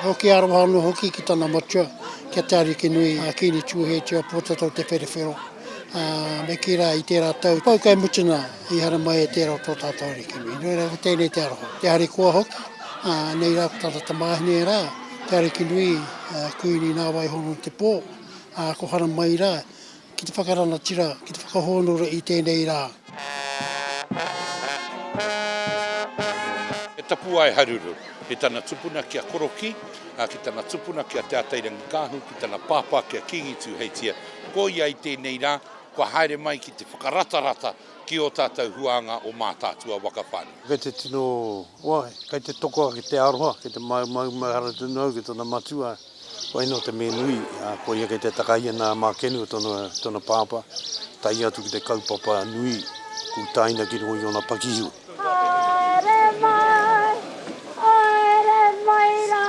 Nō ki aroha anō hoki ki tana matua, ki a Te Arikinui, a Kīngi Tūheitia, Pōtatau Te Wherewhero, ā, me kī rā i tērā tau pau kei mutunā, i haere mai e tērā o tō tātou Arikinui. Nō reira, ko tēnei te aroha. Te harikoa hoki, ā, nei rā ko tana tamāhine rā, Te Arikinui, ā, Kuini nā Waihoronu te pō, ā, ko haramai rā, Ki te whakarangatira, ki te whakahōnore i tēnei rā. He tapuwae haruru ki tana tupuna ki a Korokī, ā, ki tana tupuna ki a Te Atairangikaahu, ki tana pāpā ki a Kīngi Tūheitia. Ko ia i tēnei rā, kua haere mai ki te whakaratarata ki ō tātou huānga o Mātaatua waka whānui. Kei te tino, wai, kei te toko ake te aroha, kei te māu māu maihara tonu au ki tana matua. Waino te me nui, ko ia kei te takai ana a Makenu, tona papa, tae atu ki te kaupapa nui ku taina ki runga i ona pakihiwi. Haere mai, haere mai ra.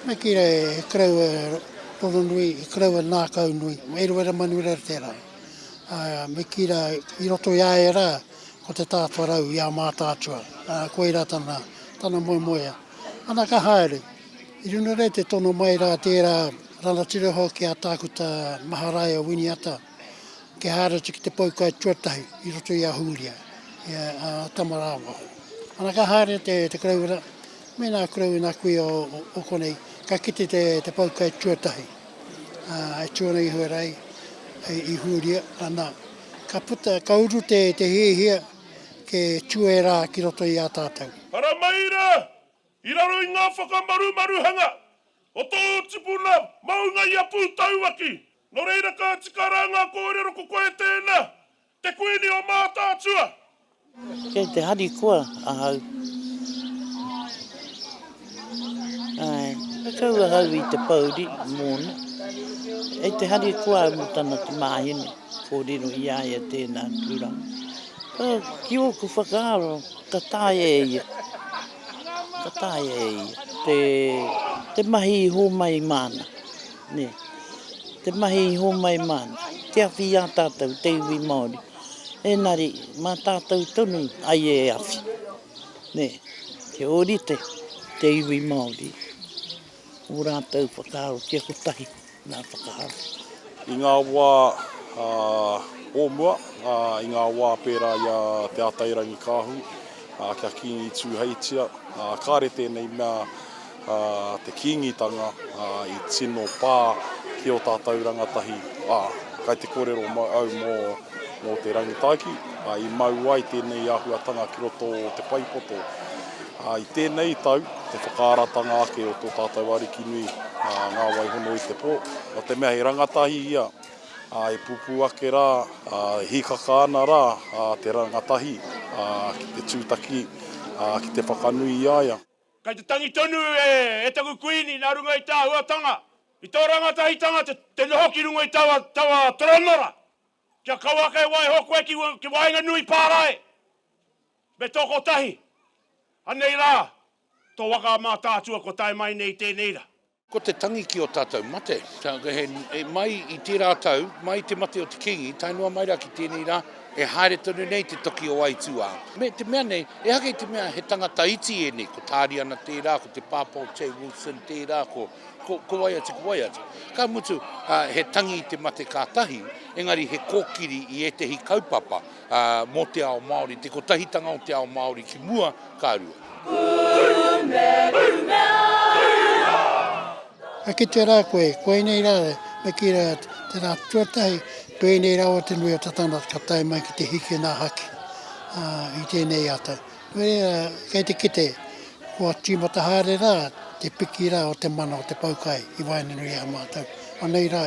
Me kira e krau e Rongonui, e krau e Ngakaunui, Eruera Manureretera. Me kira i roto i a e ra, Ko te tāwharau i a Mātaatua, ā, koirā tana, tana moemoea. Ana ka haere. I runga nei te tono mai rā tērā rangatira hoki a Tākuta Maharaia Winiata kia haere atu ki te poukai tuatahi i roto i a Hūria, i a, a Tamarāwaho. Ana ka haere te, te Karauna, mēnā kurau i nā kuia o, o, o konei, ka kite te, te poukai tuatahi, ā, e tū ana iho rā i, i Hūria, ana, Ka puta, ka uru te hiahia ke tuera ki roto i a tatou. Hara mai ra, i raro i nga whakamarumaruhanga o tou tipuna maunga i a Putauaki. No reira ka tika ra nga korero ko koe tena, te Kuini o Mataatua, Kei te harikoa ahau. Ai, ka kau ahau i te pouri mōna. Kei te harikoa au mō tana tamāhine, kōrero i a ia tēnā tūranga. Ka, ki ōku whakaaro, ka taea e ia. Ka taea e ia. Te, te mahi i hōmai māna. Nē. Te mahi i hōmai māna. Te awhi i a tātou, te iwi Māori. Engari, mā tātou tonu ai e awhi, nē, kia ōrite te iwi Māori ō rātou whakaaro kia kotahi ngā whakaaro. I ngā wā o mua, i ngā wā pērā i a Te Atairangikaahu, kia Kīngi Tūheitia, kāre tēnei mea a te Kīngitanga i tino pā ki ō tātou rangatahi, ā, kai te kōrero au mō te rangitaiki, ā, i mau ai tēnei āhuatanga ki roto o te whaipoto. Ā, i tēnei tau, te whakaaratanga ake o tō tātou Ariki nui, ā, ngā waihono i te pō, nō te mea he rangatahi ia, ā, e pupū ake rā, ā, e hīkaka ana rā te rangatahi, ā, ki te tūtaki, ā, ki te whakanui i a ia. Kei te tangi tonu e taku Kuini nā runga i tā āhuatanga, i tō rangatahitanga te noho ki runga i taua toronora, kia kau ake e waiho koe ki waenganui pārae me tō kotahi, anei rā tō waka a Mātaatua kua tae mai nei i tēnei rā. Ko te tangi ki o tatou mate. E mai i tera tau, mai i te mate o te kingi, tae noa mai ra ki tenei ra, e haere tonu nei te toki o aituā. Me te mea nei, ehake i te mea he tangata iti enei, ko Tariana tera, ko te pāpā o Che Wilson tera, ko wai atu, ko wai atu. Ka mutu, he tangi i te mate ka tahi, engari he kokiri i etehi kaupapa. mō te ao Māori, te kotahitanga o te ao Māori ki mua, ka rua. E kite rā koe, koinei rā, me kī rā, tērā tuatahi, pēnei rawa te nui o te tangata ka tae mai ki te hiki nā haki i tēnei ata. Kei te kite, kua tīmata haere rā te piki rā o te mana o te pau kai i waenganui i a mātou. Anei rā,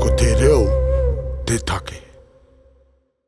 Ko te reo te take.